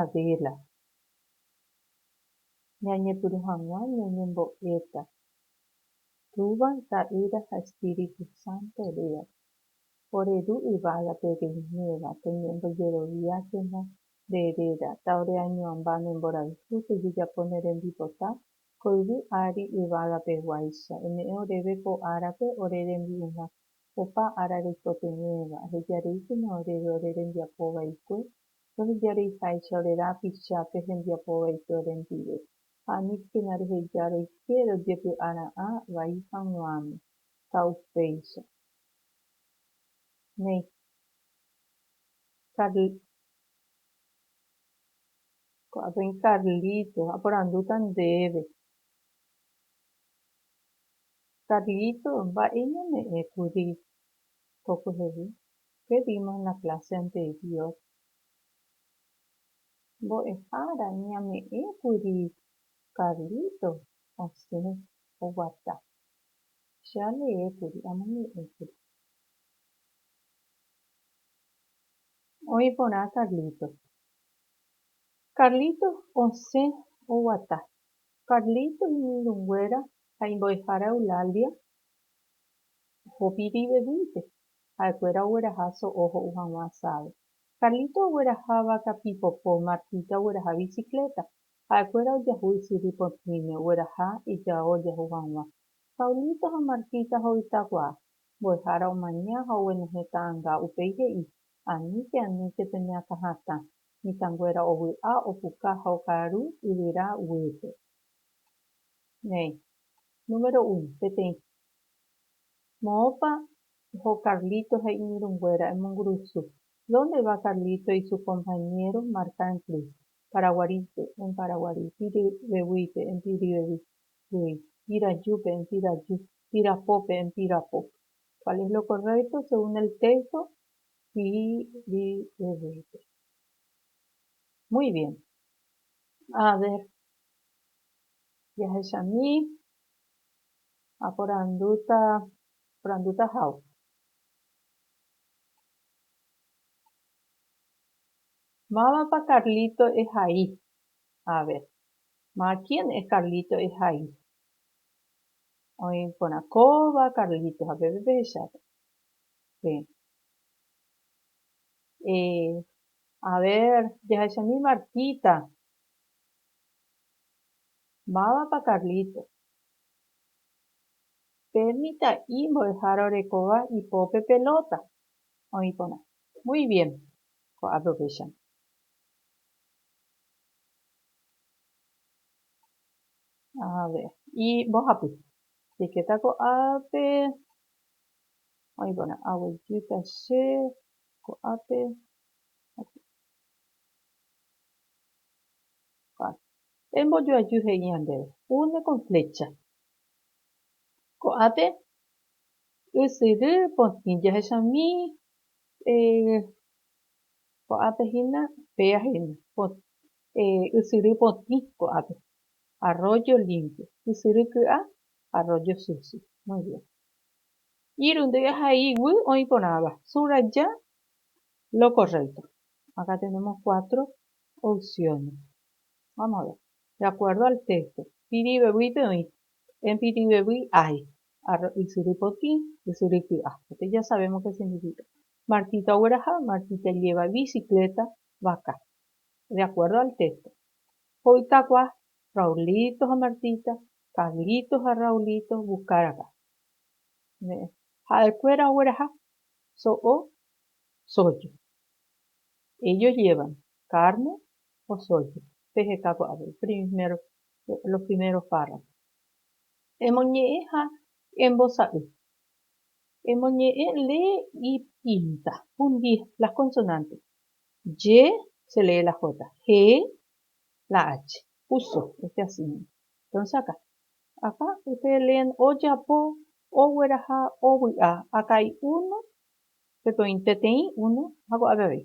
Adela. Ñañepyrũ hag̃ua ñañembo'éta Túva, Ta'ýra ha Espíritu Santo rýa. Ore Ru yvágape reiméva, peñembojeroviákena nde réra, ta ore añoamba ne mborayhu pejejapo ne rembipota ko yvy ári yvágapeguáicha. Eme'ẽ oréve ko árape ore rembi'urã, opa ára reikotevẽva, eheja reíkena oréve ore rembiapo vaikue Entonces jareiháicha ore rapicha pe hembiapo vaite orendive, ha aníkena reheja roike rojepy'a ra'ã vai haguãme, ta upéicha. Néi. Carl. Ko'ã peẽ Carlitos aporandúta ndéve. Carlitos, mba'e ñame'ẽ kuri ko kuehevi? Che vimos la clase anterior. Mbo'ehára ñame'ẽkuri Carlito osẽ oguata. Che aleékuri, amoñe'ẽkuri. Oĩ porã Carlito. Carlito osẽ oguata. Carlito iñirũnguéra ha imbo'ehára Eulalia oho pirivevýipe. Ha'ekuéra ogueraha so'o ho'u hag̃ua asádo. Carlito ogueraha váka pipopo, Martita ogueraha bicicleta. Ha'ekuéra ojahu ysyry potĩme, ogueraha ijao ojahu hag̃ua. Paulito ha Martita hoytakuaa. Mbo'ehára omaña ha oguenohẽ ta'anga, upéi he'i, Aníke, aníke pene akã hatã. Mitãnguéra ovy'a, opuka ha okaaru yvyra guýpe. Néi. Número uno, peteĩ. Moõpa oho Carlito ha iñirũnguéra emongurusu? Dónde va Carlito y su compañero Marta en plus? Paraguarípe, en Paraguari, Piryveguípe, en Piryveguí, Pirajúpe, en Piraju, Pirapópe, en Pirapo. Cuál es lo correcto según el texto? Piryveguípe. Muy bien. A ver, jahechami Aporandúta, porandúta how. Mávapa Carlito ehai? A ver, ma kien es Carlito ehai? Oĩ porã kóva Carlito ha peve pehecháta. Pe. Eh, a ver, jahechami Martita. Mávapa Carlitos? Pe mitã'i mbo'ehára orekóva ipópe pelota oĩ porã. Muy bien, ko aprovechando. A ver, y mbohapy. Jaikéta ko'ápe oĩ porã. Aguejýta che ko'ápe. Vale. Pe mbojoajy he'íva ndéve, une con flécha. Ko'ápe ysyry potĩ jahechami, ko'ápe hína péa hína, ysyry potĩ ko'ápe, arroyo limpio, ysyry ky'a, arroyo sucio. Muy bien. Iru ndéve ha iguy oĩ porãva, subraya lo correcto. Acá tenemos cuatro opciones. De acuerdo al texto, pirivevýi pe oĩ, en pirivevýi hay, arro ysyry potĩ, ysyry ky'a, este ya sabemos que significa, Martita ogueraha, Martita lleva bicicleta, vaca. De acuerdo al texto, hoytagua, Raulito ha Martita, Carlito ha Raulito buscar acá. Ne'ẽ, ha'ekuéra ogueraha, so'o, soju. Ellos llevan carne, Osóicha, peheka py'avéi, primer, los primeros párrafos. Emoñe'ẽ ha embosa'y. Emoñe'ẽ lee y pinta. Fundir las consonantes. Ye se lee la jota. He la ache. Uso, este así nomás. Entonces acá. Acá ustedes leen ojapo, ogueraha, ovy'a. Acá hay uno, peteĩ, uno, ha ko'ápe avei.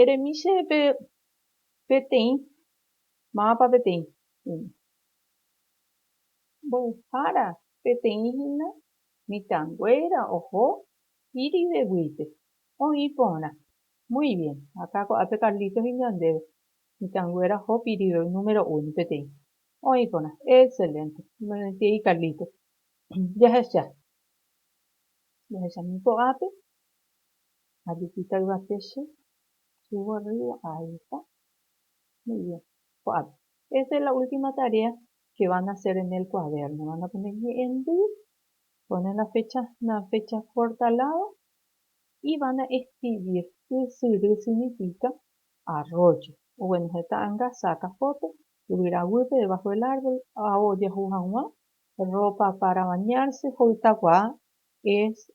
Eremi che peteĩ. Mávapa peteĩ hína? Mbo'ehára peteĩ hína mitãnguéra oho iriveguípe, oĩ porã. Muy bien. Akã ko'ápe Carlitos iñandéve. Mitãnguéra oho pirive número uno, peteĩ. Oĩ porã. Excelente. Omoirũntiei Carlitos. Jahecha. Jahechami ko'ápe. Ha jupíta yvate che chugua rýgua ahecha. Muy bien. Ko'ápe. Esta es la última tarea que van a hacer en el cuaderno. Van a poner ñe'ẽndy, ponen la fecha, una fecha corta al lado y van a escribir ysyry significa arroyo. Bueno, heta anga saca foto, yvyra guýpe debajo del árbol, ao ojahu hag̃ua, ropa para bañarse, ho'ytakuaa es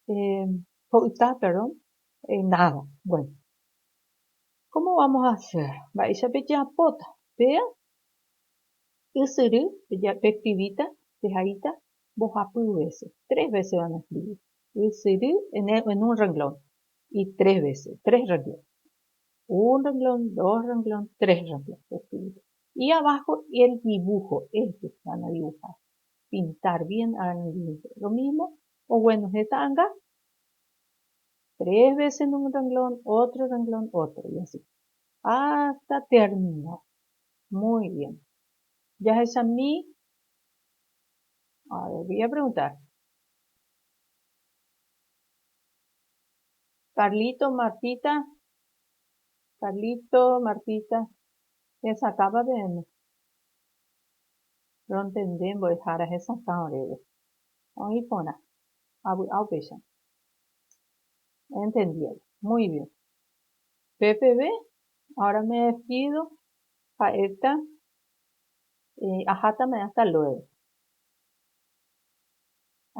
Ho'yta, perdón, nada. Bueno, cómo vamos a hacer? Mba'éicha pejeapóta? Péa ysyry peskrivíta, pehaíta mbohapy vése, tres vése van a escribir. Ysyry en un renglón y tres vése, tres renglón. Un renglón, dos renglón, tres renglón peskrivíta. Y abajo el dibujo, ellos van a dibujar. pintar bien arangĩnte, lo mismo ogueno he ta'anga, tres veces en un renglón, otro renglón, otro, y así hasta terminar. Muy bien. Jahechami, a ver, voy a preguntar. Carlito, Martita, Carlito, Martita, hesakãpa peẽme. Rontende mbo'ehára hesakã oréve. Oĩ porã. Avy'a upéicha. Entendiévo. Muy bien. Pe peve, ahora me despido, ha'éta ahátama hasta luego.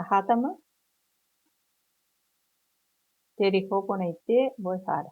Ahátama tereho porãite mbo'ehára.